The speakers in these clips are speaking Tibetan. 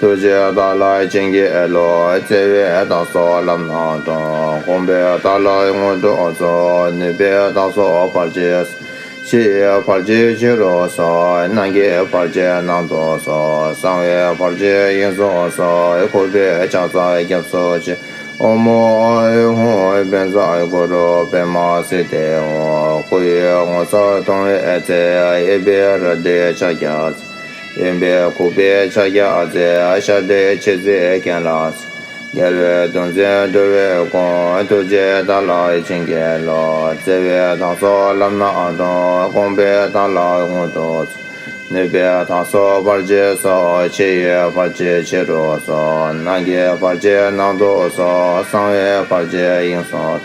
ཐུགས་རྗེ་ལྟ་ལགས་བྱིན་གྱིས་རློབས། བརྩེ་བས་བདག་སོགས་ལམ་སྣ་དྲོངས། དགོངས་པས་བདག་ལ་དངོས་གྲུབ་སྩོལ། ནུས་པས་བདག་སོགས་བར་ཆད་སེལ། བར་ཆད་ཕྱི་རུ་སོལ། ནང་གི་བར་ཆད་ནང་དུ་སོལ། གསང་བའི་བར་ཆད་དབྱིངས་སུ་སོལ། འཁོར་བའི་བྱ་བཟའ་སྐྱབས་སུ་མཆི། ཨོ་མོ་ཨུ་ཧུ་དཔལ་བཟང་གུ་རུ་པདྨ་སི་ཏི་ཧོ། སྐུ་ཡི་ངོ་མཚར་མཐོང་བའི་ཚེ། གཡས་པའི་རལ་གྲིའི་ཕྱག་རྒྱ་མཚོ། གཡོན་པས་ཁུག་པའི་ཕྱག་རྒྱ་རྩེ་ཞགས་བདེ་བྱེད་རྩེ་གན་ལ། རྒྱལ་བའི་གདུང་བཙན་སྒྲོལ་བའི་དགོངས་ཐུགས་རྗེ་དང་ལག་བྱིན་རྒྱལ་ལོ། བརྩེ་བའི་ཐང་སོགས་བརླབས་ན་དྲོངས་དགོངས་པའི་དང་ལ་ངུ་དོ། ནུས་པའི་ཐང་སོགས་བར་ཆད་སོགས་ཕྱེད་ཡོལ་བར་ཆད་ཕྱི་རུ་སོགས་ནང་གི་བར་ཆད་ནང་དུ་སོགས་གསང་བའི་བར་ཆད་དབྱིངས་སོགས།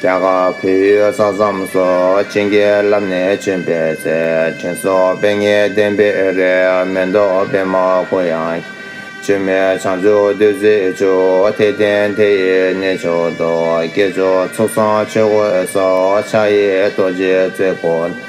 རྒྱ་གར་བོད་ཡུལ་ས་མཚམས་སུ་སྤྱི་འགལ་རླབས་ནས་བྱོན་པའི་ཚེ་དྲན་གསོ་དཔེ་ངེས་བསྟན་པའི་རེ་སྨོན་རྡོ་དཔེ་མ་གོ་ཡང། བྱོན་མའི་བྱང་ཆུབ་བདུད་རྩིའི་ཆུ་དེ་བསྟན་དེ་ཡི་གནས་མཆོག་ཏུ་སྐྱེས་བྱུང་ཚོགས་གསང་ཆོས་གོས་སོགས་ཕྱག་གཡས་རྡོ་རྗེའི་རྩེ་དགུ།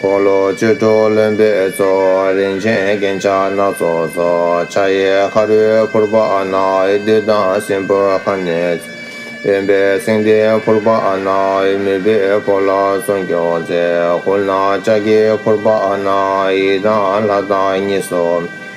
འཁོར་ལོ་བཅུ་དྲུག་ལོན་པའི་ཚོགས། རིན་ཆེན་རྒྱན་ཆ་སྣ་ཚོགས་སོགས། ཕྱག་གཡས་ཁ་རུས་ཕུར་པ་ནག། བདུད་དང་སྲིན་པོ་ཁ་ནས་བྱུང། གཡོན་པས་སེང་ལྡེང་ཕུར་པ་ནག། མུས་པས་བོར་ལ་སྲུང་སྐྱོབ་མཛད། ཧཱུྃ་ནག་ལྕགས་ཀྱི་ཕུར་པ་ནག། ཡིད་དང་ལྷ་དང་གཉིས་སོ།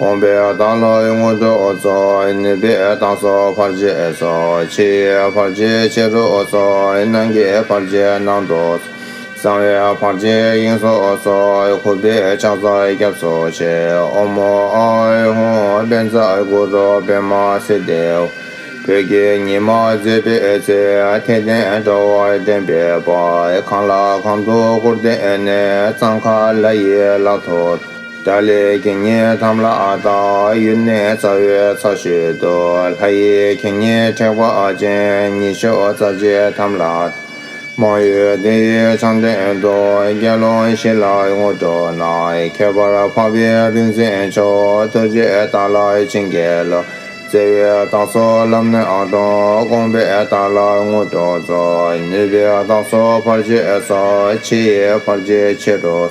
དགོངས་པའི་བདག་ལྷའི་དངོས་གྲུབ་སོགས་ནུས་པའི་བདག་སོགས་བར་ཆད་སོགས་ཕྱི་ཡི་བར་ཆད་ཕྱི་རོལ་སོགས་ནང་གི་བར་ཆད་ནང་དུ་གསང་བའི་བར་ཆད་དབྱིངས་སོགས་སོ་ཁུ་བས་ཕྱག་རྩ་སྐྱབས་སོ་ཤེ་འོ་མོ་ཨ་ཨི་ཧུ་དཔལ་རྩ་དགུ་རུ་སྦེད་མ་སེ་ལྡེའུ་བོད་ཀྱི་ཉི་མ་མཛེས་པའི་ཚེ་ཐལ་ལྡན་དྲ་བ་ལྡན་པའི་བར་གང་ལ་གང་དུ་བསྐུར་བསྟན་ནས་གཙང་ཁ་ལ་ཡི་ལག་ཐོད། ཏཱ་ལའི་གིང་ངེ་འཐམ་ལ་ཨ་ཏའ་ཡུལ་ནས་རྩ་བའི་ཚ་ཤོད་དུ་ལྷ་ཡི་གིང་ངེ་དྲེགས་པ་ཅན་ཉི་ཤུ་རྩ་བརྒྱད་འཐམ་ལ། མང་ཡུལ་བདུན་ཡུལ་ཚང་དོན་དུ་རྒྱལ་བློན་བཞི་ལ་ངོ་སྤྲོད་གནང། ཁྱད་པར་འཕགས་པའི་རིག་འཛིན་མཆོག་ཐུགས་རྗེས་ཏཱ་ལ་ཆིང་རྒྱལ་བློན་བརྩེ་བའི་བདག་སོ་ལམ་སྣེ་ཨ་ཏོ་དགོངས་པས་ཏཱ་ལ་ངོ་སྤྲོད་རྫོགས་ནུས་པའི་བདག་སོ་ཕར་ཆེར་སོགས་ཕྱི་ཡི་ཕར་ཆེར་ཆེ་རུ།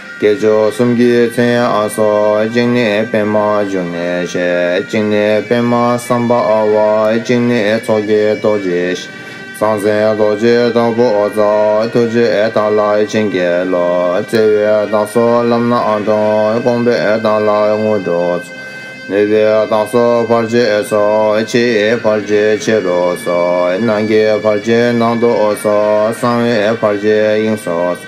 བསྐྱེད་ཆོག་གསུམ་གྱི་མཚན་ཨ་སོགས་གཅིག་ནི་པདྨ་འབྱུང་གནས་བཤད་གཅིག་ནི་པདྨ་བསམ་པ་བ་གཅིག་ནི་ཚོགས་ཀྱི་རྡོ་རྗེ་བཤད། ཟང་ཟིང་རྡོ་རྗེ་དྭགས་པོ་རྫ་ཐུགས་རྗེ་དྭགས་ལ་བྱིན་རྒྱལ་ལོ་བརྩེ་བའི་བདག་སོགས་ལམ་སྣ་དྲོངས་དགོངས་པའི་བདག་ལ་དངོས་གྲུབ་སྩོལ། ནུས་པའི་བདག་སོགས་བར་ཆད་སོགས་ཕྱིའི་བར་ཆད་ཕྱི་རུ་སོགས་ནང་གི་བར་ཆད་ནང་དུ་སོགས་གསང་བའི་བར་ཆད་དབྱིངས་སུ་སོགས།